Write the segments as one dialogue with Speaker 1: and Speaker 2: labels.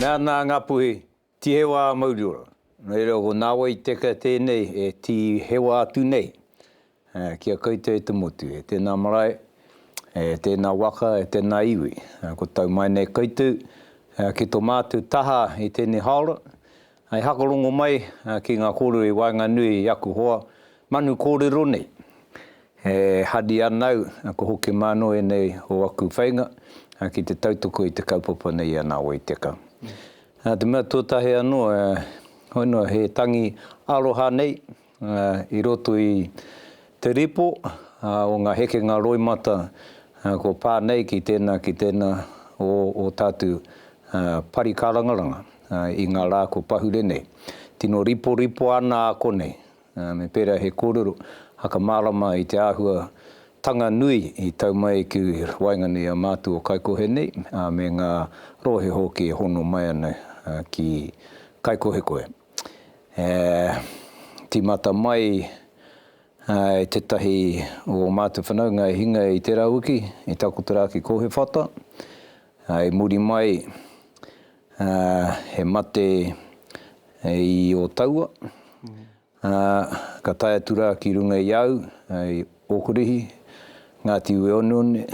Speaker 1: Mea ana a Ngapuhi, Tihewa a Mauriora. Nō reira, ko Nāwai Teka tēnei e tihewa atu nei. Ki a koutou e te motu, e tēnā marae, e tēnā waka, e tēnā iwi, kua tau mai nei koutou ki tō mātou taha i tēnei haora, hei hakarongo mai ki ngā kōrero i waenganui i aku hoa manu kōrero nei. E hari ana au, ko Hoki Mānoa ēnei o aku whainga, ki te tautoko i te kaupapa nei i a Nā Wai Teka. Te mea tuatahi anō, hoi noa, he tangi aroha nei, I roto i te ripo o ngā hekenga roimata kua pā nei ki tēnā, ki tēnā o ō tātou pari kārangaranga i ngā rā kua pahure nei. Tino riporipo ana a konei, me pērā he kōrero whakamārama i te āhua tanga nui i tau mai ki waenganui i a mātou o Kaikohe nei me ngā rōhe hoki e hono mai ana ki Kaikohekohe. e tīmata mai e tētahi o ō mātou whanaunga e hinga i tērā wiki, i takoto rā ki Kōhewhata, i muri mai he mate i Ōtaua, ka tae atu rā ki runga i a au, i Ōkurihi, Ngāti Ueoneone,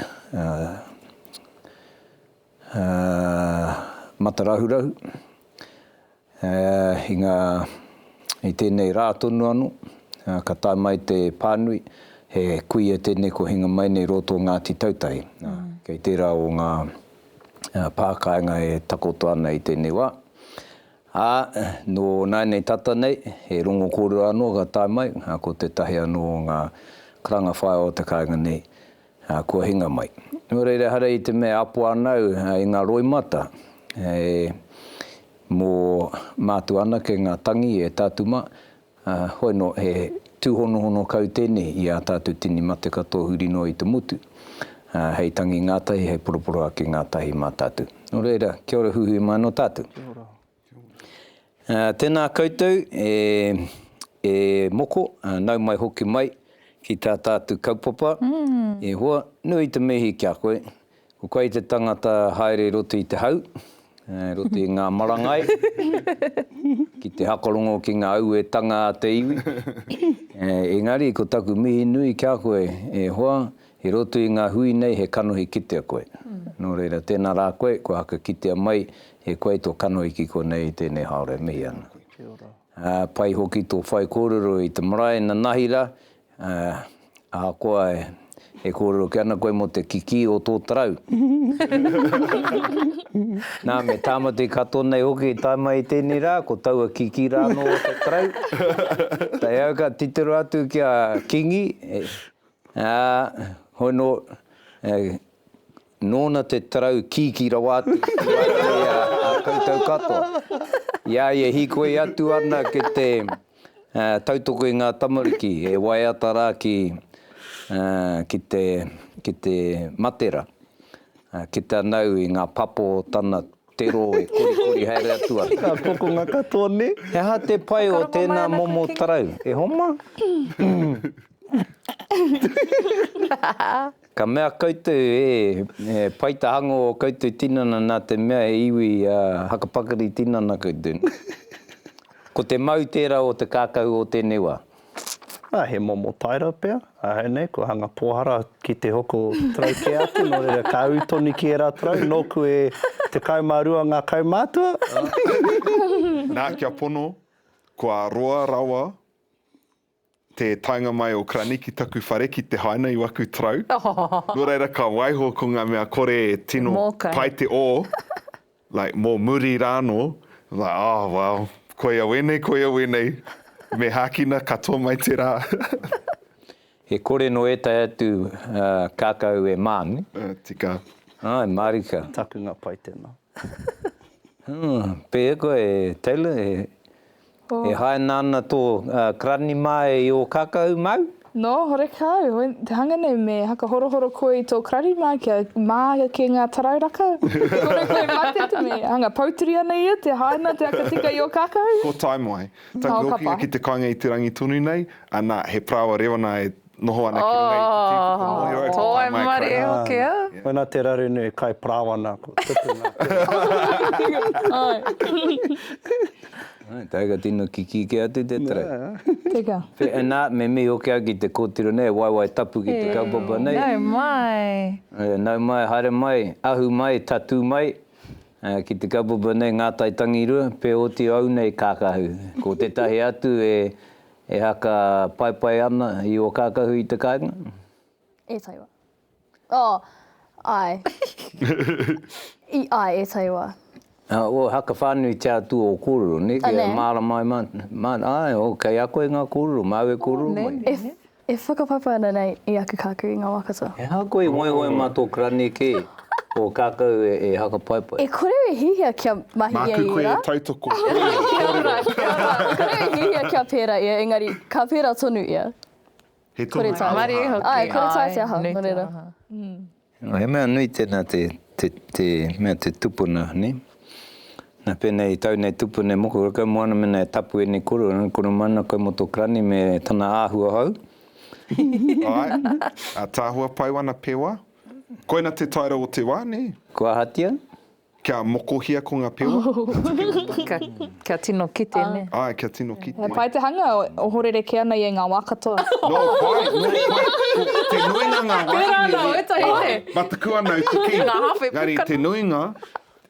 Speaker 1: Ā, matarahurahu, ā, i ngā, i tēnei rā tonu anō, ā, ka tae mai te pānui, he kuia tēnei ko hinga mai nei rō tō Ngāti Tautahi. Ā, kei tērā o ngā, ā, pā kāinga e takoto ana i tēnei wā. Ā, nō nāinei tata nei, he rongo kōrero anō ka tae mai, ā, ko tētahi anō o ngā karanga whaea o te kāinga nei, Ā, kua hinga mai. Nō reira, ehara i te mea e apo ana au i ngā roimata, e, mō mātua anake ngā tangi e tatuma, ā, hoi nō, he tūhonohono kau tēnei i ā tātou tini mate katoa huri noa i te motu, ā, hei tangi ngātahi, hei poroporoaki ngātahi mā tātou. Nō reira, kia ora huihui mai anō tātou. Kia ora. Tēnā koutou e moko, nau mai hoki mai ki tā tātou kaupapa. E hoa, nui te mihi ki a koe. Ko koe te tangata haere roto i te hau, roto i ngā marangai, ki te hakarongo ki ngā auetanga a te iwi. Engari ko taku mihi nui ki a koe, e hoa, I roto i ngā hui nei he kanohi kitea koe. Nō reira, tēnā rā koe, kua haka kitea mai e koe tō kanohi ki konei i tēnei haora e mihi ana. Ā, pai hoki tō whaikōrero i te marae nanahi rā, ā, ahakoa e kōrero kē ana koe mō te kikī o tō tarau. Nā, me tāmati katoa nei hoki i tae mai i tēnei rā, ko taua kikī rā anō o tō tarau. Tae au ka titiro atu ki a Kingi, Ā, hoi nō, nōna te tarau kīkī rawa atu ki a koe a koutou katoa. I a ia hīkoi atu ana ki te tautoko i ngā tamariki e waiata rā ki, ki te, ki te matera, ki te anau i ngā papo o tana Te roo e korikori haere atu ana. Nga kokonga katoa
Speaker 2: ne. He aha te pai
Speaker 1: o tena momo tarau? E homa? Ka mea koutou e, he pai ta hango o koutou tinana na te mea he iwi a hakapakari tinana koutou. Ko te mau tera o te kakau o tenei wa. Ā, he
Speaker 2: momo taera pea, ahau nei, kua hanga pōhara ki te hoko tarau kē atu, nō reira, ka ū tonu ki ērā tarau, nōku e tekau mā rua ngā kaumātua.
Speaker 3: Nā, kia pono, kua roa rawa te taenga mai o Krani ki taku whare ki te haina i waku tarau, nō reira, ka waiho ko ngā mea kore e tino pai te ō, Like mo muri ra no, like oh well, koia wenei, koia wenei, me hakina katoa mai te ra.
Speaker 1: He kore no etai atu kakau e manu. Ah, tika.
Speaker 3: Ai, marika.
Speaker 1: Takunga pai tena.
Speaker 2: Humm,
Speaker 1: pehea koe Taylor, E haina ana tō karani mā e i ō kākau māu? Nō, horekā
Speaker 4: au, te hanga nei me hakahorohoro koe i tō karani mā kia mā ake ngā tarau raka. E kore koe mate te me hanga poutiri ana ia, te haina te aka tika i ō kākau? Ko Taimoe.
Speaker 3: Taku hokinga ki te kainga i te rangi tonu nei, anā, he parāoa rewana
Speaker 4: e
Speaker 3: Noho ana ki runga i te tū puka moe rau.
Speaker 4: Ko wai
Speaker 3: marie e hoki au. Wena
Speaker 2: te raru nui kai parawana ko
Speaker 1: tupu nga tira. Tiger tino kiki kia atu te tara. Teka.
Speaker 4: Na me
Speaker 1: mihi hoki au ki te kotiro nei e waewae tapu ki te kaupapa nei. Nau mai.
Speaker 5: Nau mai
Speaker 1: haere mai ahu mai tatu mai ki te kaupapa nei nga tai tangi rua pe oti au nei kakahu ko tetahi atu e E haka paepae ana i o kakahu i te kainga? E taiwa.
Speaker 6: Oh, ae. I, ae, e taiwa. O haka
Speaker 1: whanui te atu o korero, ne? Kia e marama ai man, ae, o kei a koe nga korero, mau e korero mai. E, e whakapaepae
Speaker 6: ana nei i aku kakahu i nga wa katoa. Ehara koe i ngoe ngoe
Speaker 1: ma to krane ke. Ko kākou e hakapaipai. E kore e hihia
Speaker 6: kia mahi ia i ērā. Māku koe e tautoko. Kia
Speaker 3: ora, kia ora. E kore
Speaker 6: e hihia kia pērā ia, engari, ka pērā tonu ia. He tonu te
Speaker 3: aroha.
Speaker 6: He
Speaker 3: tonu te
Speaker 6: aroha.
Speaker 5: Āe, kore tā te aha, nō
Speaker 6: reira.
Speaker 5: He mea
Speaker 1: nui tēnā te mea te tupuna, nē. Nā pēnei, tau nei tupuna e moko, kau mua ana mēnā e tapu ēnei koro, koro mai ana kau mō tō Karani me tana āhua hou.
Speaker 3: Āe, ātaahua pau ana pewa. Koina te taera o te wa, ne? Kua ahatia?
Speaker 1: Kia
Speaker 3: mokohia ko nga pewa. Kia tino
Speaker 5: kite, ne? Ae, kia tino kite. He
Speaker 3: pai te hanga,
Speaker 4: ohorere ke ana i e nga wa katoa. No pai, no
Speaker 3: pai, ko te nuinga nga wa ine, ne? Tera ana, wetahi, ne?
Speaker 5: Mataku ana i te
Speaker 3: king. Nga hawhe puka. Engari te
Speaker 5: nuinga.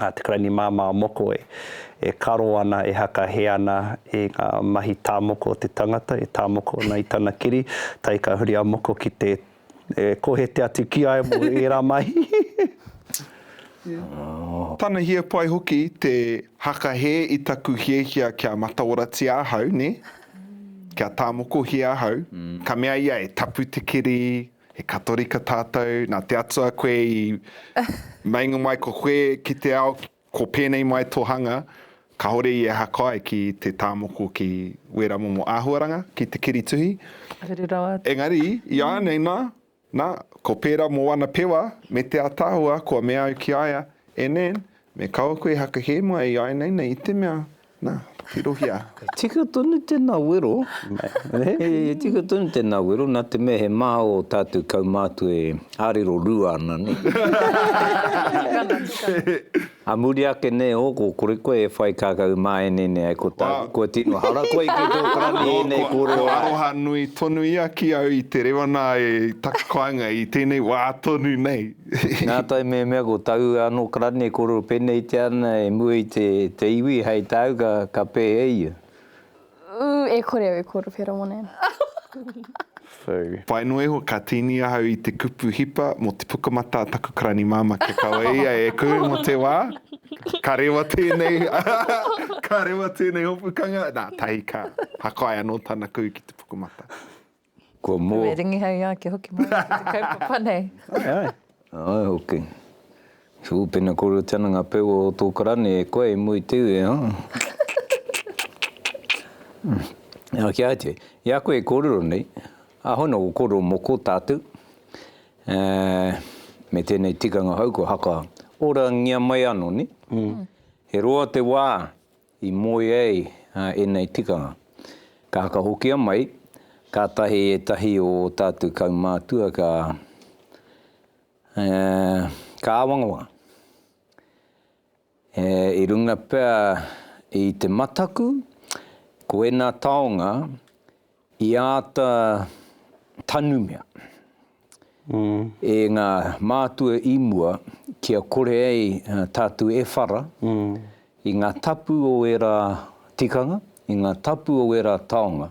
Speaker 2: a Te Karainimāmā o Moko e karo ana, e haka hē ana i ngā mahi tāmoko o te tangata, e tāmoko ana i tana kiri, tae ka huri a Moko ki te kohete atu ki ai mō ērā mahi.
Speaker 3: Tana hia pai hoki te haka hē i taku hiahia kia mataoratia ahau, nē, kia tāmokohia ahau, ka mea ia e tapu te kiri, He Katorika tātou, nā te Atua koe i meinga mai ko koe ki te ao, ko pēnei mai tō hanga, kāore i aha kai ki te tā moko ki wērā momo āhuaranga, ki te kiri tuhi. Rere rawa atu.
Speaker 5: Engari, iānei
Speaker 3: nā, nā, ko pērā mō ana pewa, me te ātaahua kua mea au ki a ia, e Nan, me kaua koe haka hē mai i āinei nei i te mea, Na, tirohia. Tika tonu
Speaker 1: tena wero. He tika tonu tena wero, na te mea he maha o tatou kaumātua e arero rua ana, ne. Tikana, tikana. A muri ake nei o ko kore koe e whai kakau māene nei ai ko tāku kua tino hara koe ki tō karani ēnei kōrero ai. Ko aroha nui tonu
Speaker 3: ia ki au i te rewa nā e taku kāinga i tēnei wā tonu nei. Nā tae
Speaker 1: mehemea ko taua anō karani e kōrero pēneitia ana e mua i te iwi, hei tāu ka pēhea e ia? Ū,
Speaker 6: e kore au e kōrero pērā mōna ēnā.
Speaker 3: Pai noa iho, ka tīni ahau i te kupu hipa mō te pukamata a taku karani māmā kia kaua e ia e kū mō te wā. Ka rewa tēnei, ka rewa tēnei hopukanga, nā, tahi ka hakai anō tana kū ki te pukamata. Kua
Speaker 1: mō. Kua ringihau i āki hoki
Speaker 5: mai ki te kaupapa nei. Ae, ae.
Speaker 1: Ae hoki. Tūpena kore tena ngā pewa o tō karani e koe i mua i te iwi, ā. Nā, kia atu. I a koe e kōrero nei, āhua nō ko kōrero mō kō tātou, ā, me tēnei tikanga hou kua haka orangia mai anō, nē? He roa te wā. I moe ai ēnei tikanga. Ka whakahokia mai, kātahi ētahi o ō tātou kaumātua ka, ā, ka āwangawanga. Ā, i runga pea i te mataku, ko ēnā taonga I āta tanumia e ngā mātua i mua kia kore ai tātou e whara i ngā tapu o ērā tikanga, i ngā tapu o ērā taonga,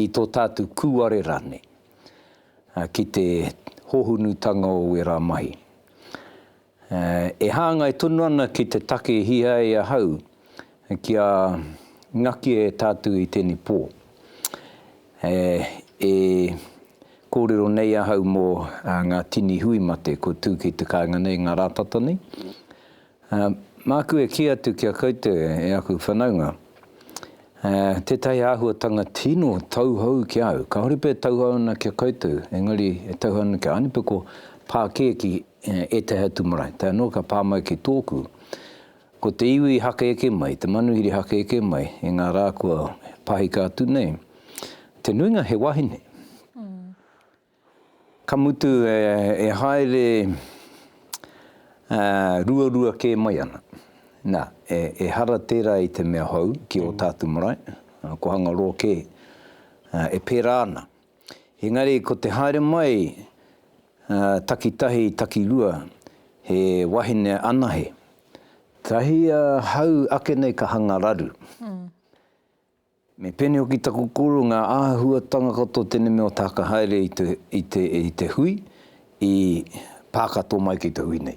Speaker 1: i tō tātou kūare rānei, ki te hōhonutanga o ērā mahi. E hāngai tonu ana ki te take hia e ahau kia ngakia e tātou i tēnei pō. E kōrero nei ahau mō ngā tini hui mate kua tū ki te kāinga nei, ngā rātata nei. Māku e kī atu ki a koutou e aku whanaunga, tētahi āhuatanga tino tauhou ki a au, kāore pea e tauhou ana ki a koutou, engari e tauhou ana ki a Ānipe, ko pākēkī. ētahi atu marae, tae noa ka pā mai ki tōku, ko te iwi haka eke mai, te manuhiri haka eke mai i ngā rā kua pahika atu nei, te nuinga he wahine. Ka mutu e haere ruarua kē mai ana. Nā, ehara tērā i te mea hou ki ō tātu marae, ko Hangaroa kē e pērā ana. Engari ko te haere mai takitahi takirua he wahine anahe. Tahi ahau ake nei ka hanga raru. Me pēnei hoki taku koro ngā āhuatanga katoa tēnei mea o te haka haere i te, i te, i te hui i pā katoa mai ki te hui nei.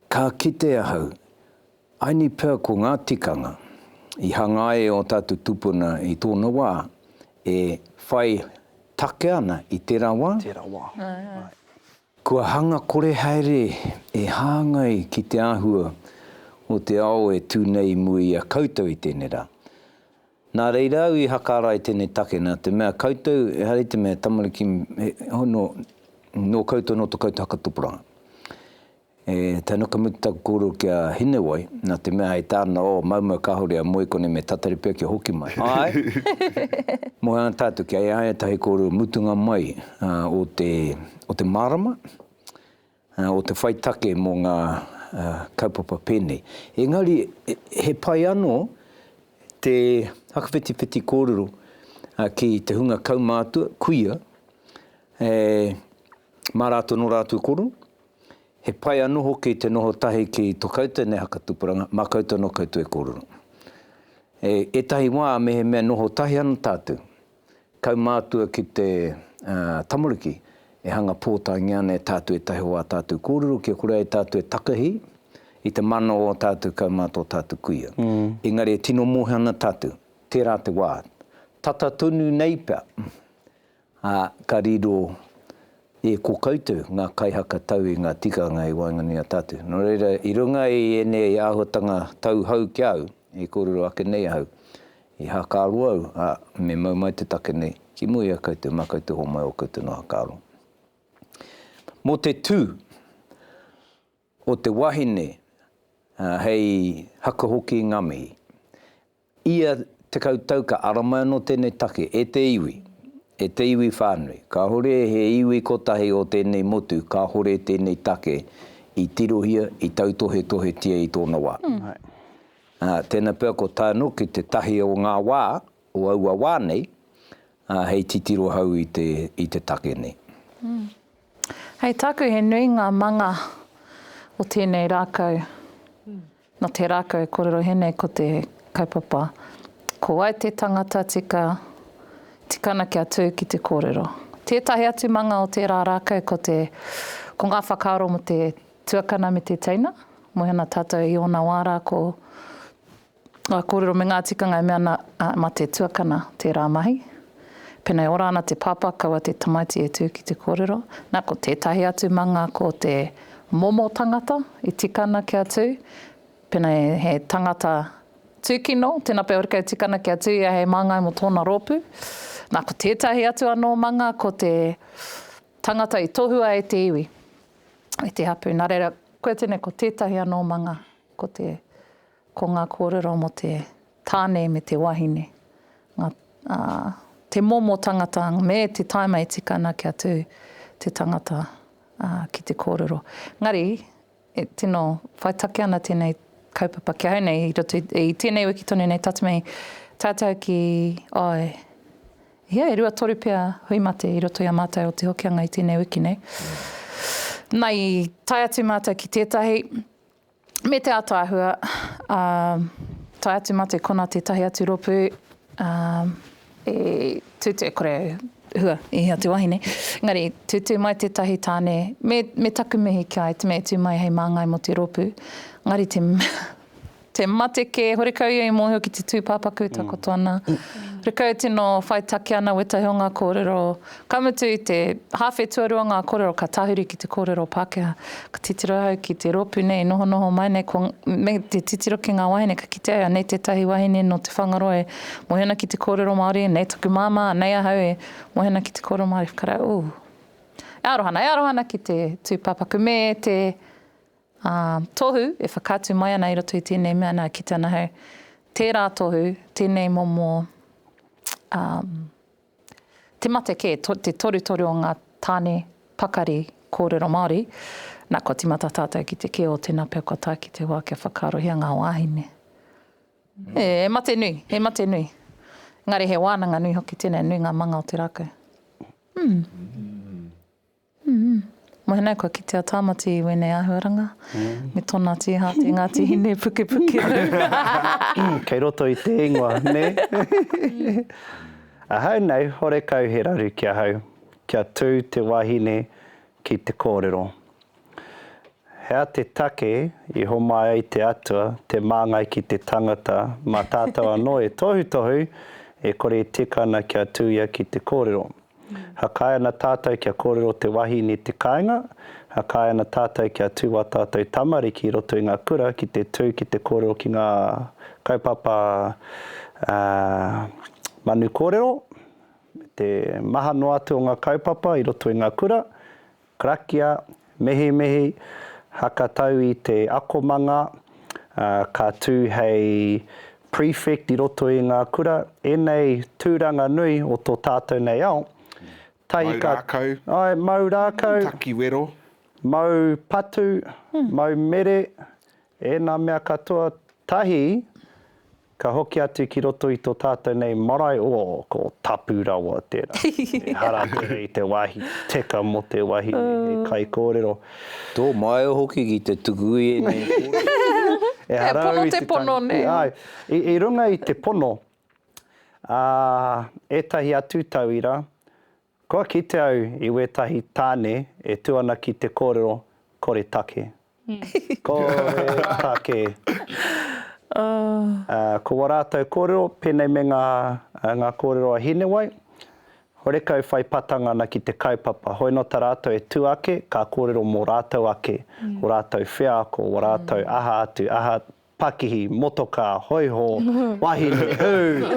Speaker 1: Ka kite ahau. I need per ko ngā tikanga i hangā e ō tātou tūpuna i tōna wā e whai take ana i tērā wā. Tērā wā. Right. Kua hanga kore haere e hāngai ki te āhua o te ao e tū nei i mua i a koutou i tēnei rā. Nā reira au i hakaara i tēnei take nā te mea koutou ehara i te mea tamariki e hono nō koutou nō to koutou haka topuranga. E tana ka mutu taku kōrero ki a Hinewai, nā te mea hei tāna, oh, maumau kāore a Moe kone me tatari pea kia hoki mai. Āe! Moe ana tātou kia e ai ētahi kōrero mutunga mai o te, o te mārama, o te whai take mō ngā kaupapa pēnei. Engari, he pai anō te whakawhitiwhiti kōrero ki te hunga kaumātua, kuia, e, mā rātou nō rātou koro, He pai anō hoki te noho tahi ki tō koutou nei haka tupuranga, mā koutou anō koutou e kōrero. E ētahi wā mehemea noho tahi ana tātou, kaumātua ki te tamariki e hanga pōtaengia ana e tātou ētahi o ā tātou kōrero kia kore ai tātou e takahi i te mana o ō tātou kaumātua, ō tātou kuia. Engari e tino mōhio ana tātou, tērā te wā, tata tonu nei pea, Ā, ka riro e ko koutou ngā kaihaka tau i ngā tikanga i waenganui i a tātou. Nō reira, i runga i ēnei āhuatanga tau hou ki a au, i kōrero ake nei ahau, i hākāro au, ā, me mau mai te take nei, ki mua i a koutou, mā koutou homai ō koutou noa hākāro. Mō te tū. o te wahine, hei haka hoki i ngā mihi. Ia tekau tau ka ara mai anō tēnei take e te iwi, e te iwi whānui. Kāore he iwi kotahi o tēnei motu kāore tēnei take i tirohia, i tautohetohetia i tōna wā. Ā, tēnā pea kua tae anō ki te tahi o ngā wā, o aua wā nei, ā, hei titiro hou i te, i te take nei.
Speaker 5: Hei tāku he nui ngā manga o tēnei rākau. Nō te rākau e kōrero he nei ko te kaupapa, ko wai te tangata tika, tika ana kia tū ki te kōrero. Tētahi atu manga o tērā rākau ko te, ko ngā whakaaro mō te tuakana me te teina, moe ana tātou i ōna wā rā ko, Ngā kōrero me ngā tikanga e mea ana, mā te tuakana tērā mahi. Pēnā e ora ana te pāpā, kaua te tamaiti e tū ki te kōrero. Nā, ko tētahi atu manga ko te momo tangata i tika ana kia tū. Pēnā he tangata tūkino, tēnā pea hoki e tika ana kia tū ia hei māngai mō tōna rōpū. Nā, ko tētahi atu anō manga ko te tangata i tohua e te iwi, e te hapū. Nā reira, koe tēnei ko tētahi anō manga ko te. Ko ngā kōrero mō te tāne me te wahine, ngā, ā, te momo tangata me te taima e tika ana kia tū te tangata, ā, ki te kōrero. Engari, e, tino whai take ana tēnei kaupapa ki ahau nei i roto i, i tēnei wiki tonu nei tata mai tātou ki, āe, e hia, e rua toru pea hui mate i roto i a mātou o Te Hokianga i tēnei wiki nei. Nā, i tae atu mātou ki tētahi, Me te ataahua, ā, tae atu mā te kona tētahi atu ropu, ā, e tūtū, kore au, hua, i hea te wahine, engari tūtū mai tētahi tāne, me, me taku mihi ki a ia, te mea e tū mai hei māngai mō te rōpū, engari te, te mate kē, horekau ia i mōhio ki te tūpāpaku e takoto ana, horekau tino whai take ana wētahi o ngā kōrero, Ka mutu i te hāwhe tuarua ngā kōrero ka tahuri ki te kōrero Pākehā. Ka titiro ahau ki te rōpū nei i nohonoho mai nei, ko, me te titiro ki ngā wāhine, ka kitea anei tētahi wāhine nō Te Whangaroa e mohi ana ki te kōrero Māori, anei taku māmā, anei ahau e mohi ana ki te kōrero Māori. Whakarau, ū, e aroha ana, e aroha ana ki te tūpāpaku me te tohu e whakaatu mai ana i roto i tēnei mea, nā, kitea ana ahau tērā tohu, tēnei momo, ā, Te mate kē, te torutoru o ngā tāne pakari kōrero Māori, nā, kua tīmata tātou ki te kē o tēnā pea kua tae ki te wā kia whakaarohia ngā wāhine. E, he mate nui, he mate nui. Engari he wānanga nui hoki tēnei, nui ngā manga o te rākau. Mm. Mōhenai kua kite a Tāmati i wēnei āhuaranga me tōna tīha te Ngāti Hine pukepukerau.
Speaker 2: Kei roto i te ingoa, nē? Ahau nei, horekau he raru ki ahau kia tū te wahine ki te kōrero. He aha te take i homai ai te Atua te māngai ki te tangata mā tātou anō e tohutohu e kore e tika ana kia tū ia ki te kōrero? Hakae ana tātou kia kōrero te wahine i te kāinga, hakae ana tātou kia tū wā tātou tamariki i roto i ngā kura ki te tū ki te kōrero ki ngā kaupapa manu kōrero, me te maha noa atu o ngā kaupapa i roto i ngā kura, Karakia, Mehemehei, haka tau i te akomanga, ka tū hei prefect i roto i ngā kura, enei tūranga nui o to tātou nei ao, tahi ka. Mau rākau. Ae, mau rākau. Takiwero.
Speaker 3: Mau
Speaker 2: patu, mau mere, Ēnā mea katoa, tahi, ka hoki atu ki roto i tō tātou nei marae, o, ko Tapu rawa tērā. Ehara tere i te wāhi teka mō te wahine hei kaikōrero. Tō māia
Speaker 1: hoki ki te tuku i ēnei kōrero. Ehara au i
Speaker 2: te pono nei.
Speaker 5: Āe, i runga
Speaker 2: i te pono, ā, ētahi atu tauira, Kua kite au i wetahi tane e tu ana ki te korero kore take. Kore take. Ko wa ratou korero, penei me nga nga korero a Hinewai, horekau whai patanga ana ki te kaupapa. Hoi no ta ratou e tu ake, ka korero mo ratou ake, ko ratou wheako, wa ratou aha atu, aha pakihi, motokā, hoiho, wahine, hū,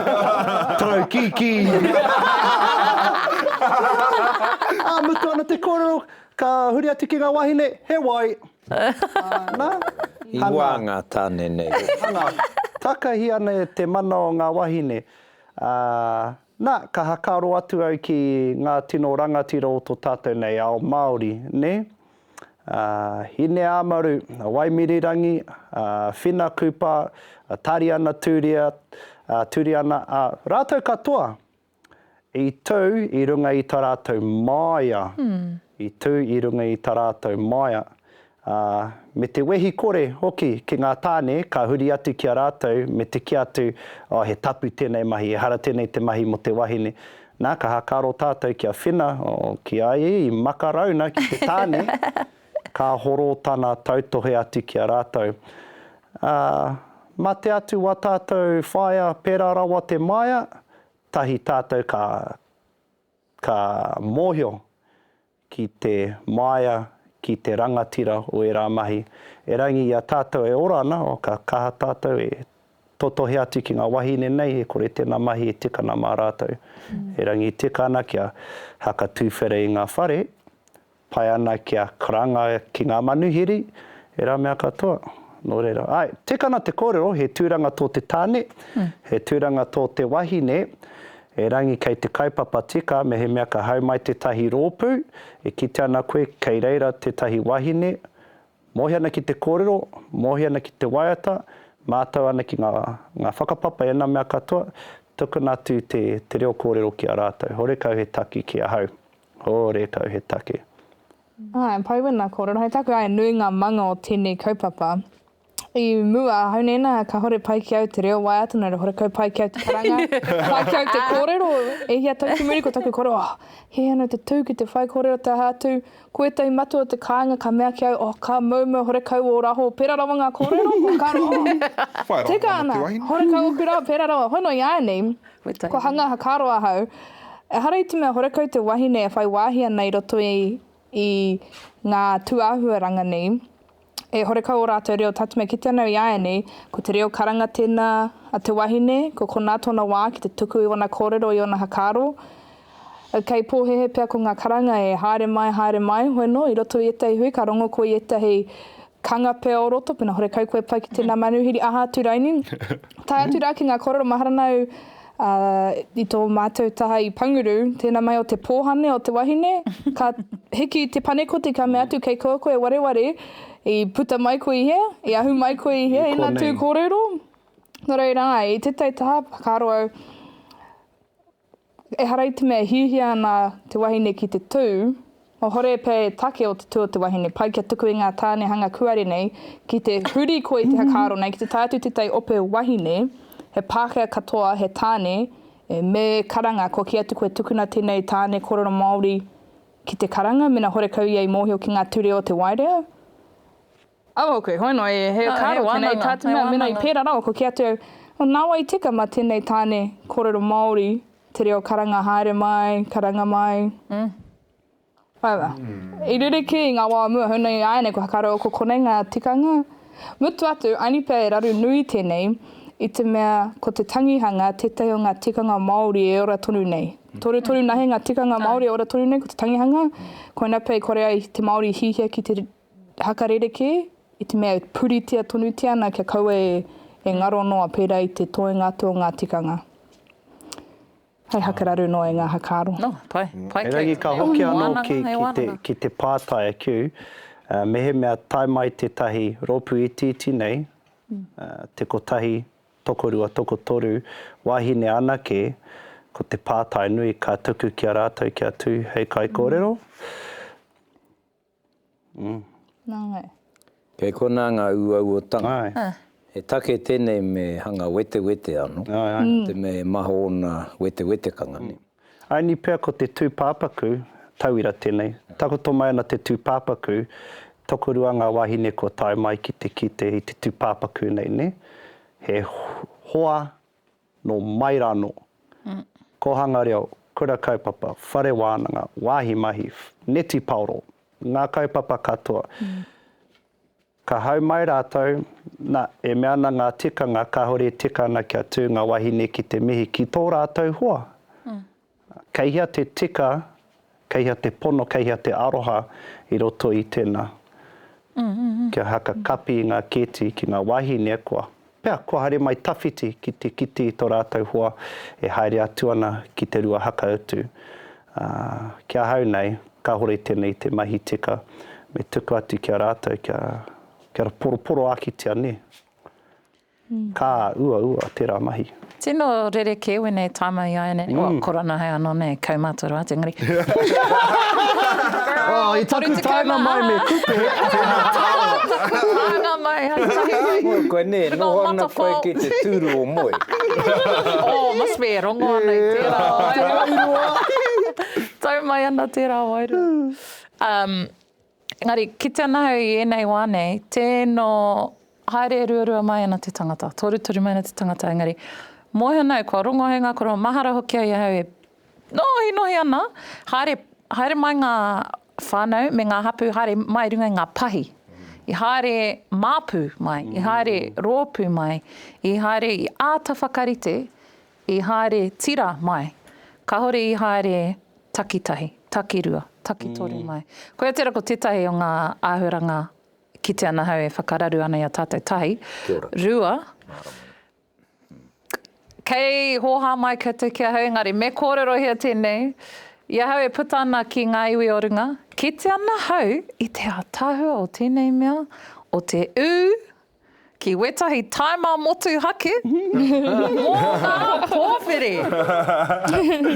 Speaker 2: tau kīkī. Ā mutu ana te kōrero, ka huri atu ki ngā wāhine, he wai. Nā, hangā.
Speaker 1: I wā ngā tāne nei. Hangā, takahi
Speaker 2: ana e te mana o ngā wāhine, ā. Na, ka hakaro atu au ki nga tino rangatira o to tatou nei ao Maori, ne? A Hineamaru, a Waimirirangi, a Whina Kupa, a Tariana Turia, a Turiana, a ratou katoa i tu i runga i ta ratou maia, i tu i runga i ta ratou maia. ā, me te wehi kore hoki ki ngā tāne ka huri atu ki a rātou me te kī atu, Oh, he tapu tēnei mahi, ehara tēnei te mahi mō te wahine. Nā, ka hakaro tātou ki a Whina, oh, ki a ia i makarauna ki te tāne, ka horō tana tautohe atu ki a rātou. Ā, mā te atu wā tātou whāia pērā rawa te māia, tahi tātou ka, ka mōhio ki te māia, ki te rangatira o ērā mahi. Erangi i a tātou e ora ana, ka kaha tātou e totohe atu ki ngā wahine nei, e kore tēnā mahi e tika ana mā rātou. Erangi i tika ana kia haka tūwhera i ngā whare, pai ana kia karanga ki ngā manuhiri, ērā mea katoa. Nō reira, āe, tika ana te kōrero, he tūranga tō te tāne, he tūranga tō te wahine, Erangi kei te kaupapa tika mehemea ka hau mai tētahi rōpū, e kite ana koe kei reira tētahi wahine, mohi ana ki te kōrero, mohi ana ki te waiata, mātau ana ki ngā whakapapa i ana mea katoa, tukuna atu te reo kōrero ki a rātau. Horekau he taki ki ahau. Horekau he taki.
Speaker 4: Āe, pai wena kōrero hei taku, āe, nui ngā manga o tēnei kaupapa. I mua, ahau nei nā, kāhore pai ki au te reo Waeātuna, reo horekau pai ki au te karanga, pai ki au te kōrero, e hia tau ki muri ko taku kore, oh, he ana te tū ki te whai kōrero te aha atu, ko ētahi matua o te kāinga ka mea ki au, oh, ka moumou horekau ō raho, pērā rawa ngā kōrero, oh, ka roa, oh, tika ana, horekau ōku rā, pērā rawa, hono i āianei, kua hanga aha, ka roa ahau, ehara i te mea horekau te wahine e whai wāhi ana i roto i ngā tūāhuaranga nei, E horekau ō rātou reo tatme ki te ana i āianei, ko te reo karanga tēnā a te wahine, ko konā tōna wā ki te tuku i ōna kōrero, i ōna hakaaro. Kei pōhēhē pea ko ngā karanga e, haere mai, haere mai, hoi nō, i roto i ētahi hui ka rongo koe i ētahi kanga pea o roto, pēnā horekau koe pai ki tēnā manuhiri, aha atu raini, tae atu rā ki ngā kōrero mahara nāu, Ā, i tō mātou taha i Panguru, tēnā mai o te pōhane o te wahine, ka hiki i te panekoti ka mea atu, Kei koa koe wareware, i puta mai koe i hea, i ahu mai koe i hea, ina tū kōrero. Nō reira, āe, i tētahi taha, whakaaro au, ehara i te mea e hiahia ana te wahine ki te tū, Ohore pea e take o te tua te wahine pai kia tuku i ngā tāne hanga kuare nei ki te huri koe i te whakaaro nei ki te tae atu tētahi ope wahine he Pākehā katoa he tāne e me karanga kua kī atu koe tukuna tēnei tāne korero Māori ki te karanga mena horekau ia i mōhio ki ngā ture o te waireo Au au koe, hono e, he karo tenei tatinga, mena i pera rawa ko ki atu au, oh nawa i tika ma tenei tane korero Maori te reo karanga haere mai, karanga mai. However, i ririki i nga wa o mua, hono i ainei kua karo au ko konei nga tikanga. Mutu atu, I need pea e raru nui tenei, i te mea ko te tangihanga tetahi o nga tikanga Maori e ora tonu nei. Toru toru nahe nga tikanga Maori e ora tonu nei ko te tangihanga, koina pea i kore ai te Maori i hihia ki te Haka rerekē, i te mea e puritia tonutia ana kia kaua e ngaro noa pērā i te toenga atu o ngā tikanga. Hai haka raru noa i ngā haka aro. Oh, pai. Pai kē.
Speaker 5: Engari ka hoki
Speaker 2: anō ki, ki te, ki te pātai a Kew, mehemea tae mai tētahi rōpū itiiti nei, te kotahi, tokorua, tokotoru, wāhine anake, ko te pātai nui ka tuku ki a rātou kia tū hei kaikōrero.
Speaker 4: Nā wai. Kei
Speaker 1: konā ngā uauotanga. He take tēnei me hanga wetewete anō, te mea e maha ōna wetewetekanga. Aini pea ko
Speaker 2: te tūpāpaku, tauira tēnei, takoto mai ana te tūpāpaku, tokorua ngā wāhine kua tae mai ki te kite i te tūpāpaku nei, nē? He hoa Nō mai rānō, Kōhanga Reo, Kura Kaupapa, Whare Wānanga, Wāhi Mahi, Neti Paoro, ngā kaupapa katoa, ka hau mai rātou, nā, e mea ana ngā tikanga kāore e tika ana kia tū ngā wāhine ki te mihi ki tō rātou hoa, Kei hea te tika, kei hea te pono, kei hea te aroha i roto i tena? Kia haka kapi i nga keti ki nga wahine, kua. Pea, kua haere mai tawhiti ki te kite i to ratou hoa e haere atu ana ki te rua haka utu. A, ki ahau nei, kahore tena i te mahi tika, me tuku atu ki a ratou kia, kia poroporoakitia, ne? Ka uaua tera mahi. Tino rerekē
Speaker 5: wēnei taima iāianei. Ua korona hai anō nei kaumātua rā atu engari.
Speaker 2: I taku taenga mai me kupe.
Speaker 5: Anga mai hai tahi mai. Moe koe nē, noho
Speaker 1: ana koe ki te tūru o moe. Oh
Speaker 5: must be e rongo ana i tērā wairua. Tau mai ana tērā wairua. Engari, kite ana au i ēnei wā nei, tēno haere ruarua mai ana te tangata, torutoru mai ana te tangata, engari, moe ana au, kua rongo hei ngā koroua, mahara hoki ai ahau e nohinohi ana, haere, haere mai ngā whānau me ngā hapū, haere mai runga i ngā pahi, i haere māpū mai, i haere rōpū mai, i haere, i āta whakarite I haere tira mai. Kahore i haere takitahi, takirua, takitoru mai. Koia tera ko tetahi o nga ahuranga kite ana ahau e whakararu ana i a tatou tahi. Rua, kei hoha mai koutou ki ahau engari me korerohia tenei i ahau e puta ana ki nga iwi o runga. Kite ana ahau i te atahua o tenei mea, o te u, Ki wetahi taima motuhake mo nga powhiri.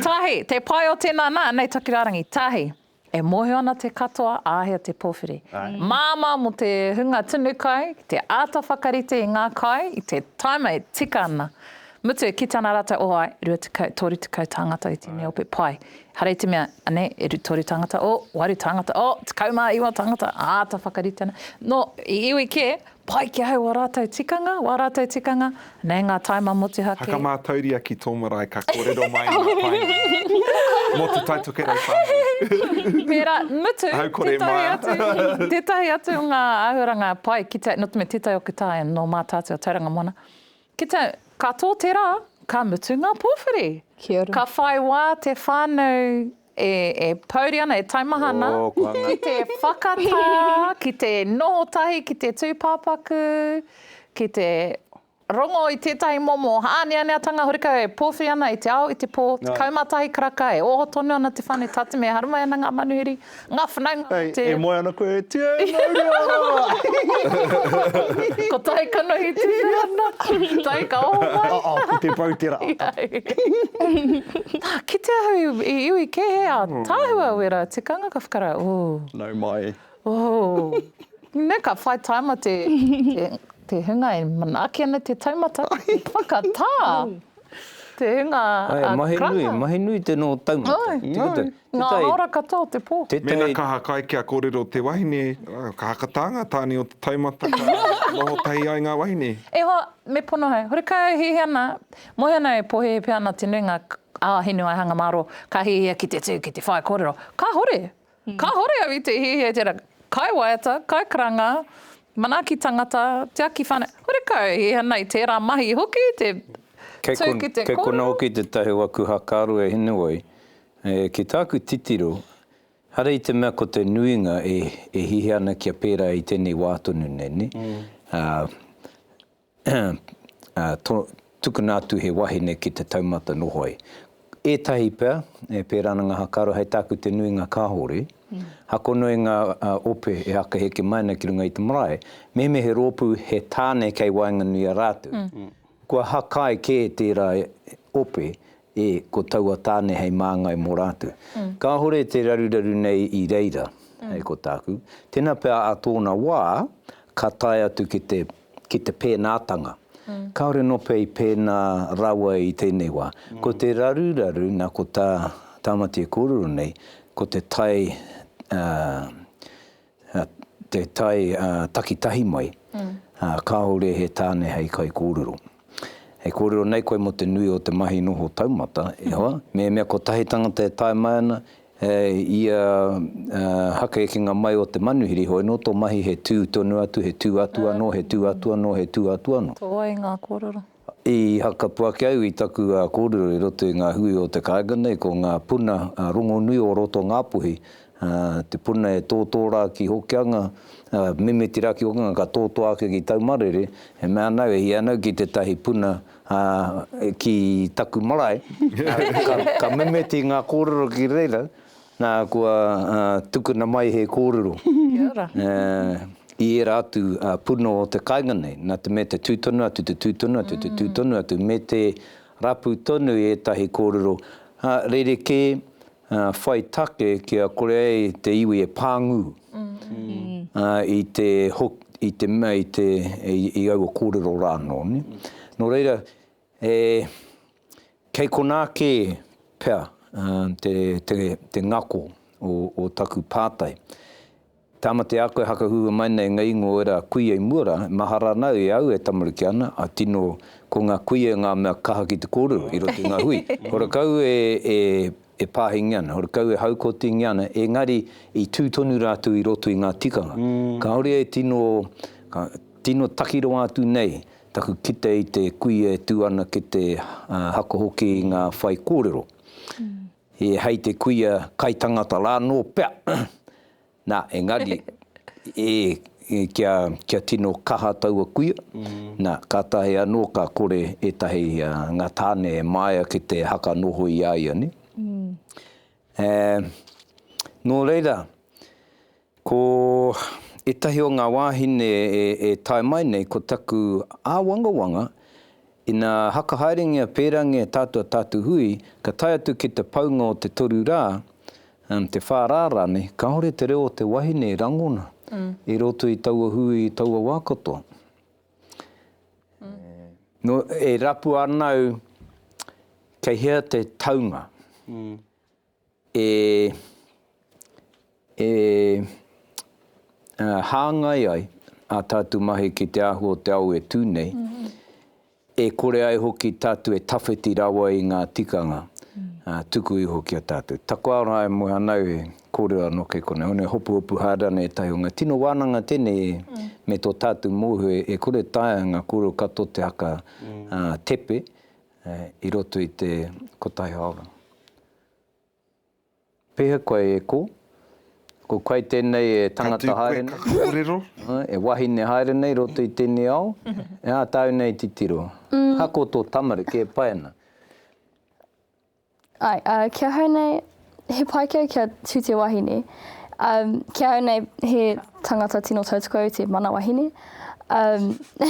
Speaker 5: Tahi, te pai o tena na, nei taku rarangi, tahi, e mohio ana te katoa ahea te powhiri. Mama mo te hunga tunu kai, ki te ata whakarite i nga kai i te taima e tika ana. Mutu, ki tana rata o Hawaii, rua tekau, toru tekau tāngata i tēnei ope pai. Hara i te mea, ane, e ru, toru tāngata, o, waru tāngata, o, tekau mā iwa tāngata, āta whakarite ana. Nō, i iwi kē, pai ki ahau ō rātou tikanga, wā rātou tikanga, nē, ngā taima motuhake. Haka mātauria ki
Speaker 3: tō marae ka kōrero mai i ngā painga. Mō Te Tai Tokerau whānui. Pērā, mutu,
Speaker 5: tētahi atu, tētahi atu o ngā āhuaranga pai ki te, nō te mea tētahi o Kitaia, nō Mātaatua, Tauranga Moana, Ki te, ka tō te rā, ka mutu ngā pōwhiri. Kia ora. Ka whai
Speaker 4: wā te
Speaker 5: whānau e, e pouri ana, e taumaha ana. Oh, ko hanga. Ki te whakatā, ki te noho tahi ki te tūpāpaku, ki te rongo i tētahi momo āneaneatanga horekau e pōwhiri ana i te ao, i te pō, 11 karaka, e oho tonu ana te whānau, tātime e haramai ana ngā manuhiri. Ngā whanaunga o te. E moe ana koe e
Speaker 2: Tia e mauri ora!
Speaker 5: Ko tai kanohi tēnei ana. Tai ka oho mai. Oh oh, ko te pou tera. Na, kitea au i iwi kē he ataahua wera tikanga ka whakara, ooh. Nau mai.
Speaker 2: Ooh.
Speaker 5: Na, ka whai taima te te hunga e manaaki ana te taumata ki te whakatā te hunga a Karanga. Ae, mahi nui, mahi nui te no
Speaker 1: taumata. Oi, oi. Ngā
Speaker 5: hāora katoa o te pō. Mēnā ka hakai kia
Speaker 3: kōrero te wahine, ka hakatā ngā tāne o te taumata ka noho tahi ai ngā wahine. E hoa, me pono
Speaker 5: hau. Horekau e hihi ana, moe ana e pōhēhē pea ana te nuinga a Hinewaihanga mārō ka hihia ki te tū, ki te whaikōrero. Kāhore! Kāhore au i te hihia i tērā. Kai waiata, kai karanga, manaaki tangata, tiaki whānau, horekau e hihi ana i tērā mahi hoki te tū ki te kōrero. Kei konā hoki tētahi o
Speaker 1: aku hakaaro e Hinewai, Ki tāku titiro, haere i te mea ko te nuinga e hihi ana kia pērā i tēnei wā tonu nei, tukuna atu he wahine ki te taumata noho ai. Ētahi pea e pērā ana ngā hakaaro, hei tāku te nuinga kāore. Hakono i ngā ope e haka heke mai ana ki runga i te marae, mehemea he rōpū, he tāne kei waenganui i a rātou, kua haka ai kē tērā ope E, ko taua tāne hei māngai mō rātou. Kāore te raruraru nei i reira, hei ko tāku. Tēnā pea ā tōna wā, ka tae atu ki te, ki te pēnātanga. Kāore nō pea i pēnā rawa i tēnei wā. Ko te raruraru, nā ko tā Tāmati e kōrero nei, ko te tae, ā, te tae takitahi mai, kāore he tāne hei kaikōrero. Hei kōrero nei koe mō te nui o te mahi noho taumata, e hoa, mehemea kotahi tangata e tae mai ana, ia hakekinga mai o te manuhiri, hoi nō tō mahi he tū tonu atu, he tū atu anō, he tū atu anō, he tū atu anō. Tō ai ngā kōrero.
Speaker 5: I hakapū
Speaker 1: ake au i taku kōrero i roto i ngā hui o te kāinga nei, ko ngā puna rongonui o roto Ngāpuhi, te puna e tōtō rā ki Hokianga, mimiti rā ki Hokianga ka tōtō ake ki Taumarere, e mea ana au e hia ana au ki tētahi puna ki taku marae, ka mimiti ngā kōrero ki reira, Nā, kua tukuna mai he kōrero i ērā atu puna o te kāinga nei, nā te mea te tū tonu atu, te tū tonu atu, te tū tonu atu, me te rapu tonu i ētahi kōrero rerekē whai take kia kore ai te iwi e pāngu i te, i te mea, i aua kōrero rānō. Nō reira. E, kei konā kē pea te, te, te ngako o, o taku pātai. Tāmati a koe hakahua mai nei ngā ingoa o ērā kuia i mua rā, mahara ana e au e tamariki ana, a tino, ko ngā kuia ngā mea kaha ki te kōrero i roto i ngā hui. Horekau e, e, e pāhingia ana, horekau e haukotingia ana, engari i tū tonu rātou i roto i ngā tikanga. Kāore e tino, ka, tino takirua atu nei Taku kite i te kuia e tū ana ki te haka hoki i ngā whaikōrero, he hei te kuia kaitangata rā nō pea, nā, engari, e, kia, kia tino kaha taua kuia, nā, kātahi anō ka kore ētahi, ngā tāne e māia ki te haka noho i a ia, nē. Ē, nō reira. Ko ētahi o ngā wāhine e tae mai nei ko taku āwangawanga, ina hakahaerengia pērangea tātou a tātou hui, ka tae atu ki te paunga o te toru rā, te whā rā rānei, kāore te reo o te wahine e rangona i roto i taua hui, i taua wā katoa. Nō e rapua ana au kei hea te taunga. e e hāngai ai ā tātou mahi ki te āhua o te ao e tū nei, e kore ai hoki tātou e tawhiti rawa i ngā tikanga tuku iho ki a tātou. Taku aroha e moe ana au he kōrero anō kei konei, hone Hopuhopu Hāra nei ētahi o ngā tino wānanga tēnei e me tō tātou mōhio e kore taea ngā kōrero katoa te haka tepe, i roto i te kotahi hāora. Pēhea koe e kō? Ko koe tēnei e tangata haere nei? Ka tū koe ka kōrero?
Speaker 3: E wahine
Speaker 1: haere nei roto i tēnei ao? Ā tāu nei titiro. Ako tō tamariki e pai ana.
Speaker 6: Āe, ā, ki ahau nei, he paikea kia tū te wahine. Ā, ki ahau nei, he tangata tino tautoko au te mana wahine. Ā,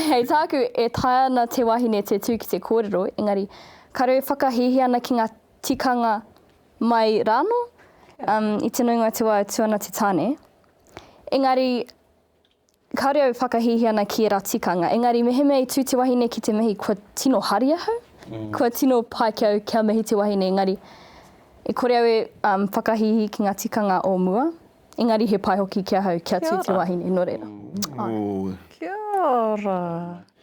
Speaker 6: hei tāku, e taea ana te wahine te tū ki te kōrero, engari, kāore e whakahīhī ana ki ngā tikanga mai rānō, ā, i te nuinga o te wā e tū ana te tāne. Engari, Kāore au e whakahīhī ana ki ērā tikanga, engari mehemea i tū te wahine ki te mihi kua tino hari ahau, kua tino pai ki au kia mihi te wahine engari e kore au e whakahīhī ki ngā tikanga o mua, engari he pai hoki ki ahau kia tū te wahine, nō reira.
Speaker 5: Kia ora!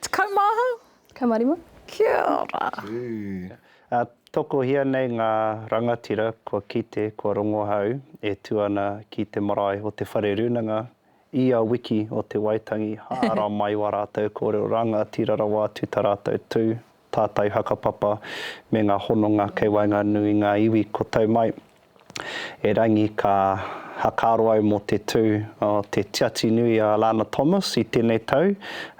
Speaker 5: Tekau mā ahau? Tekau mā rima.
Speaker 6: Kia ora!
Speaker 5: Tū. Tokohia
Speaker 2: nei ngā rangatira kua kite, kua rongo ahau e tū ana ki te marae o Te Whare Rūnanga Ia wiki o Te Waitangi, hāra mai wā rātou kōrero rangatira rawa atu tā rātou tū, tātai hakapapa, me ngā hononga kei waenganui i ngā iwi kua tau mai. Erangi ka hakaro au mō te tū o te Tiati Nui a Alana Thomas i tēnei tau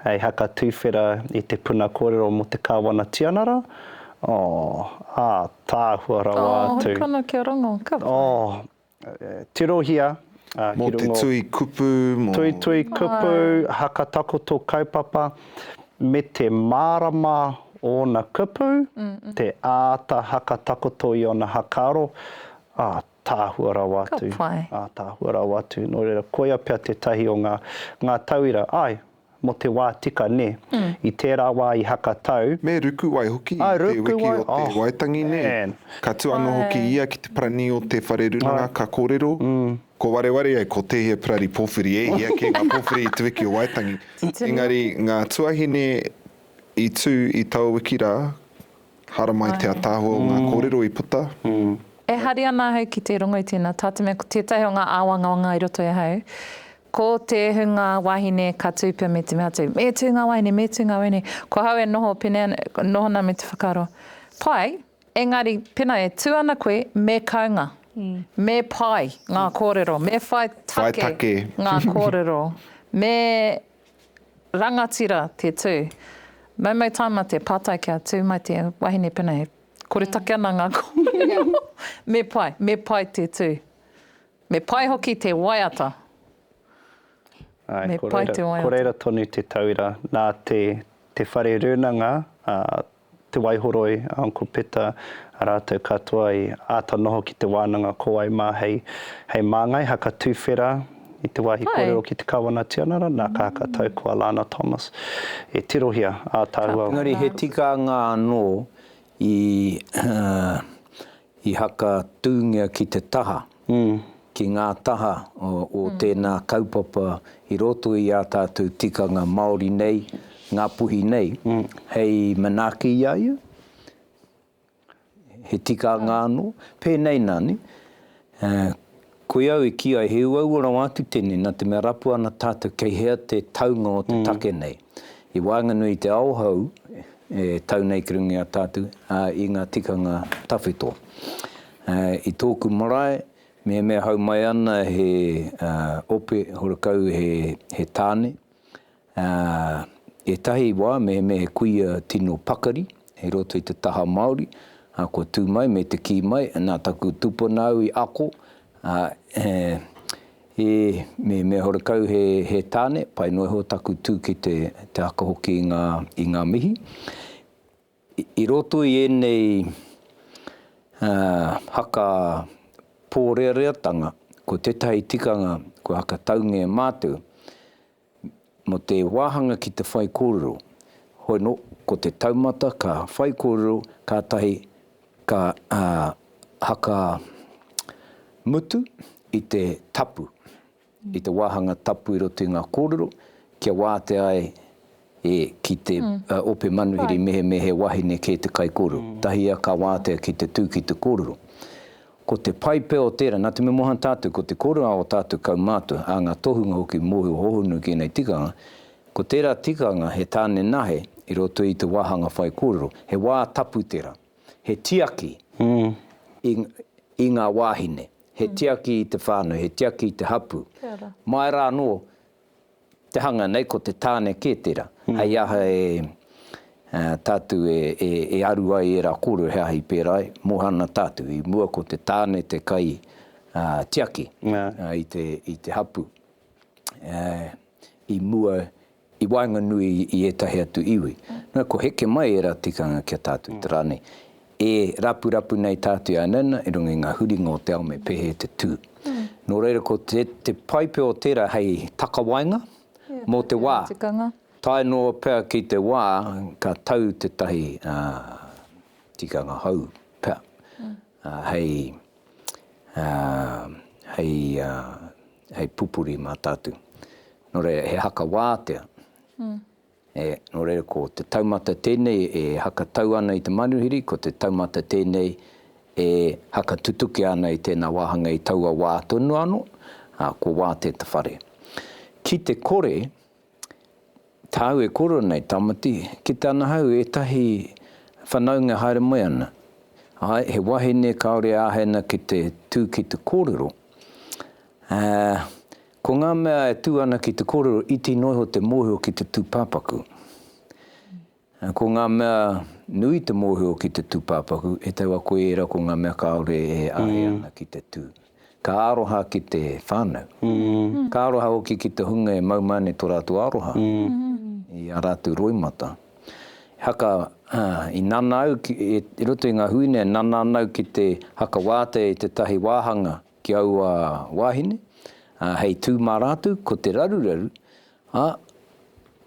Speaker 2: hei haka tūwhera i te puna kōrero mō te Kāwana Tianara, oh, ātaahua rawa atu. Oh, hei kano kia rongo, ka
Speaker 5: pai. Oh, tirohia
Speaker 2: ki runga. Mō te tui
Speaker 3: kupu, mō. Tuitui kupu,
Speaker 2: haka takoto kaupapa, me te mārama o ōna kupu, te āta haka takoto i ōna hakaaro, ātaahua rawa atu. Ka pai. Ātaahua
Speaker 5: rawa atu.
Speaker 2: Nō reira, koia pea tētahi o ngā tauira. Āe. Mo te wa tika ne. I tera wa i haka tau. Me ruku ai hoki
Speaker 3: i te wiki o Te Waitangi nei. Ka tu ano hoki ia ki te parani o te whare runanga ka korero. Ko wareware ai ko tehia parari powhiri e hia ke nga powhiri i te wiki o Waitangi. Engari nga tuahine i tu i taua wiki ra Haramai te ataahua o nga korero i puta. E hari
Speaker 5: ana ahau ki te rongo i tēnā tā te mea ko tētahi o ngā āwangawanga i roto i ahau, ko te hunga wahine ka tū pea me te mea atu, me tū ngā wahine, me tū ngā wahine, ko ahau e noho pēnei ana, noho ana me te whakaaro, pai, engari pēnā e tū ana koe, me kaunga, me pai ngā kōrero, me whai take ngā kōrero, me Rangatira te tū. Maumau tāma te pātai kia tū mai te wahine pēnā he koretake ana ngā kōrero. Me pai, me pai te tū. Me pai hoki te waiata.
Speaker 2: Āe, ko reira tonu te tauira. Nā te Whare Rūnanga, Te Waihoroi, Uncle Peta, rātou katoa i āta noho ki te wānanga ko wai mā hei hei māngai haka tuwhera i te wāhi kōrero ki te Kawana Tianara, nā ka haka tau ko a Lana Thomas e tirohia ā tāua. Engari he tikanga
Speaker 1: anō i I haka tūngia ki te taha, ki ngā taha o tēnā kaupapa i roto i ā tātou tikanga Māori nei, Ngāpuhi nei, hei manaaki i a ia, he tikanga anō, pēnei nani, Koia au e kī ai he uaua rawa atu tēnei nā te mea rapu ana tātou kei hea te taunga o te take nei. I waenganui i te ao hou e tau nei ki runga i a tātou, ā, i ngā tikanga tawhito. I tōku marae, mehemea hau mai ana he ope horekau he tāne, Ā, ētahi wā mehemea he kuia tino pakari i roto i te taha Māori, ā, kua tū mai me te kī mai, nā taku tūpuna au i ako, ā, he, he mehemea horekau he, he tāne, pai noa iho taku tū ki te, te aka hoki i ngā, i ngā mihi. I, i roto i ēnei, ā, haka pōreareatanga, ko tētahi tikanga kua hakataungia e mātou, Mō te wāhanga ki te whaikōrero, hono, ko te taumata ka whaikōrero kātahi ka haka mutu i te tapu, i te wāhanga tapu i roto i ngā kōrero, kia wātea ai e ki te ope manuhiri mehemea he wahine kē te kaikōrero, tahia ka wātea ki te tū ki te kōrero. Ko te pai pea o tērā, nā te mea moha tātou, ko te kōrero a ō tātou kaumātua, a ngā tohunga hoki i mōhio hohonu ki ēnei tikanga, ko tērā tikanga he tāne nahe i roto i te wāhanga whaikōrero, he wā tapu tērā, he tiaki i ngā wāhine, he tiaki i te whānau, he tiaki i te hapū, mai rā anō Te hanga nei ko te tāne kē tērā, hei aha e tātou e aru ai ērā kōrero he aha i pērā ai, Moana tātou, i mua ko te tāne te kai tiaki i te hapū, i mua i waenganui i ētahi atu iwi. Nō ko heke mai ērā tikanga ki a tātou i te rā nei. E rapurapu nei tātou i a Nana i runga i ngā huringa o te ao me pēhea te tū. Nō reira ko te te pai pea o tērā hei takawaenga mō te wā. Tae
Speaker 5: noa pea
Speaker 1: ki te wā ka tau tētahi tikanga hou pea hei hei hei pupuri mā tātou. Nō reira he haka wātea E, nō reira ko te taumata tēnei e hakatau ana i te manuhiri, ko te taumata tēnei e hakatutukia ana i tēnā wāhanga i taua wā tonu anō, ā, ko wā te te whare. Ki te kore, tāu e kore ana i Tamati, kite ana hau ētahi whanaunga haere moe ana. Āe, he wahine kāore e āhei ana ki te tū ki te kōrero, ā, Ko ngā mea e tū ana ki te kōrero iti noa iho te mōhio ki te tūpāpaku. Ko ngā mea nui te mōhio ki te tūpāpaku, e taua koe ērā ko ngā mea kāore e āhei ana ki te tū. Ka aroha ki te whānau. Ka aroha hoki ki te hunga e mau mai nei tō rātou aroha i ā rātou roimata. E haka, i nana au, i roto i ngā hui nei, e nana ana au ki te haka wātea i tētahi wāhanga ki aua wāhine, ā, hei tū mā rātou ko te raruraru, ā,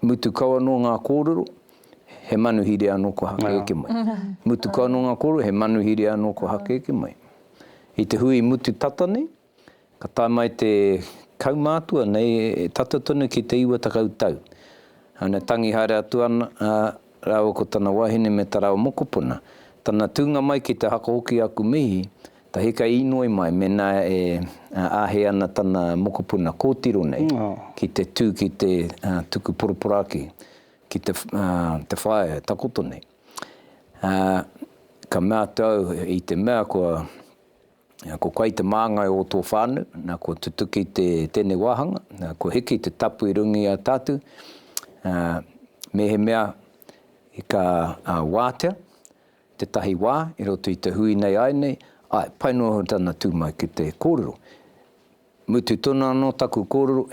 Speaker 1: mutu kau anō ngā kōrero, he manuhiri anō kua hakeeke mai. Mutu kau anō ngā kōrero, he manuhiri anō kua hakeeke mai. I te hui mutu tata nei, ka tae mai te kaumātua nei e tata tonu ki te iwa takau tau. Āna tangi haere atu ana, ā, rāua ko tana wāhine me Tarawa mokopuna. Tana tūnga mai ki te haka hoki aku mihi, Tahi ka inoi mai mena e ahe ana tana mokopuna kotiro nei ki te tu ki te tuku poroporaki ki te whaea e takoto nei. Ka mea atu au i te mea kua ko koe te māngai o tō whānau, na kua tutuki tēnei wāhanga, kua hiki te tapu i runga i a tātou, mēhemea ka wātea, Tētahi wā, i roto i te hui nei āinei, āe, pai noa hoki tana tū mai ki te kōrero. Mutu tonu anō taku kōrero,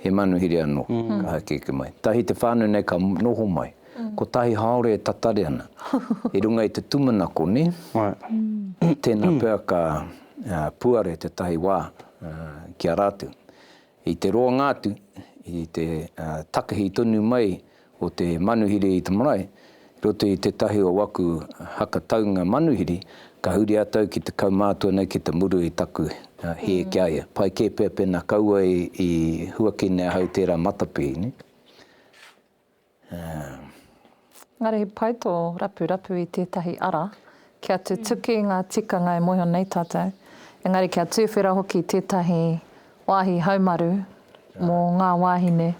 Speaker 1: he manuhiri anō ka haukeke mai. Tahi te whānau nei ka noho mai, kotahi haore e tatari ana, i runga i te tūmanako, nē? Tēnā pea ka puare tētahi wā ki a rātou. I te roanga atu, i te takehi tonu mai o te manuhiri i te marae, i roto i tētahi o aku haka taunga manuhiri, ka huri atu au ki te kaumātua nei ki te muru i taku hē ki a ia. Pai kē pea pēnā kaua i huakina e ahau tērā matapihi, nē?
Speaker 5: Engari he pai tō rapurapu i tētahi ara kia tutuki ngā tikanga e mōhio nei tātou, engari kia tuwhera hoki tētahi Wāhi haumaru mō ngā wāhine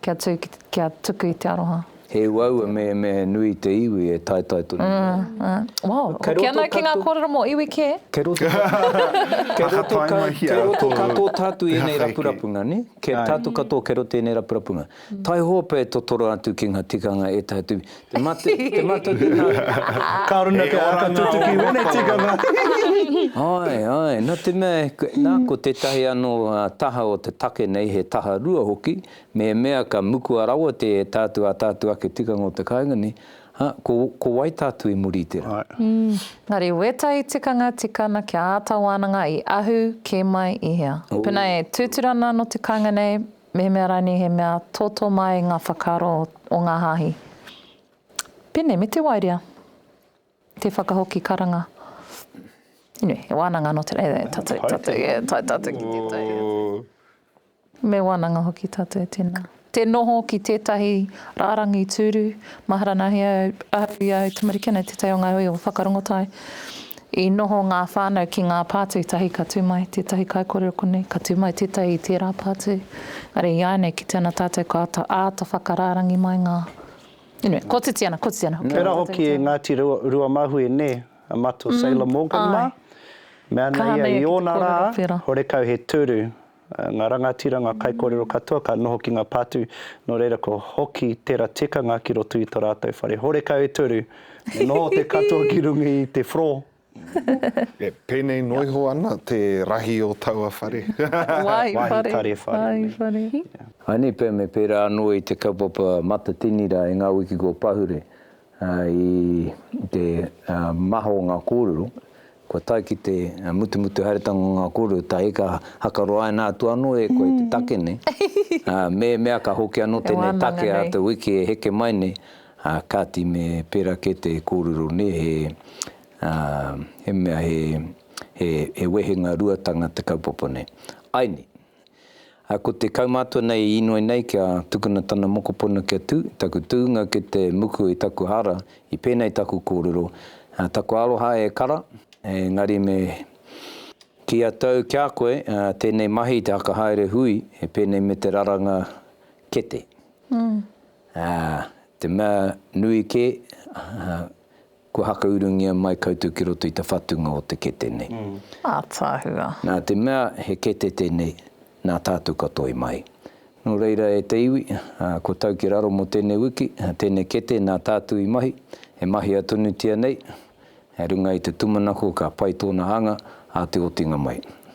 Speaker 5: kia tū kia tuku i te aroha. He uaua
Speaker 1: mehemehe nui te iwi e taetae tonu nei. Ā, ā. Wow,
Speaker 5: hoki ana ki ngā kōrero mō iwi kē. Kei
Speaker 1: roto katoa tātou i ēnei rapurapunga, nē? Kei tātou katoa kei roto i ēnei rapurapunga. Taihope e totoro atu ki nga tikanga e ta atu te mate te mate te nga Ka
Speaker 2: runa te aka tutuki wene tikanga hihihihi.
Speaker 1: Ae ae na te mea na ko tetahi ano taha o te take nei he taha rua hoki mehemea ka mukua rawa te ta atu a ta atu ake tikanga o te kainga nei ha ko ko wai ta atu i muri i te ra. Engari
Speaker 5: wetahi tikanga tikana kia ata wananga i ahu ke mai i hea. Pena e tuturana ano te kainga nei Mehemea rānei he mea tōtō māi ngā whakaaro o ngā hāhi. Pēnei me te waerea, te whakahoki karanga. Anyway, he wānanga anō tērā, e tātou, e tātou, e tae tātou ki tētahi atu. Me wānanga hoki tātou e tēnā. Te noho ki tētahi rārangi tūru, mahara nāhi au, ahakoa i ahau tamariki, anei tētahi o ngā hui o Whakarongotai, I noho ngā whānau ki ngā pā tētahi ka tū mai tētahi kaikōrero konei, ka tū mai tētahi i tērā pā atu. Are i āianei kite ana tātou ka āta whakarārangi mai ngā, anyway, kotiti ana, kotiti ana hoki. Tērā hoki e
Speaker 2: Ngāti Ruamahue nē, a Mato Sailor Morgan mā? Mea ana ia i ōna rā, horekau he tūru. Ngā rangatira, ngā kaikōrero katoa ka noho ki ngā pātū, nō reira kua hoki tera tikanga ki roto i to rātou whare horekau e toru, me noho te katoa ki runga i te floor. E
Speaker 3: penei no iho ana te rahi o taua whare. Wahi whare. Wahi
Speaker 5: whare. Wahi whare. Anei
Speaker 1: pea me pērā anō i te kaupapa Matatini rā e ngā wiki kua pahure. I te maha o ngā kōrero, kua tae ki te mutumutu haeretanga o ngā kōrero, tae ka hakaroaina atu anō e koe te take nei, ā, mehemea ka hoki anō tēnei take a te wiki e heke mai nei, ā, kāti me pērā kē te kōrero nei, he, ā, he mea, he, he, he wehenga ruatanga te kaupapa nei. Ai nei. Ā, ko te kaumātua nei i inoi nei kia tukuna tana mokopuna kia tū, taku tūnga ki te muku i taku hara, i pēnei taku kōrero, ā, taku aroha e kara, engari me kīia tou ki a koe, ā, tēnei mahi te haka haere hui, he pēnei me te raranga kete. Ā, te mea nui kē, ā, Kua hakaurungia mai koutou ki roto i te whatunga o te kete nei. Ataahua.
Speaker 5: Nā te mea
Speaker 1: he kete tēnei, nā tātou ka toe mai. Nō reira e te iwi, kua tau ki raro mō tēnei wiki, tēnei kete nā tātou i mahi, e mahia tonutia nei, e runga i te tumanako ka pai tōna anga ā te otinga mai.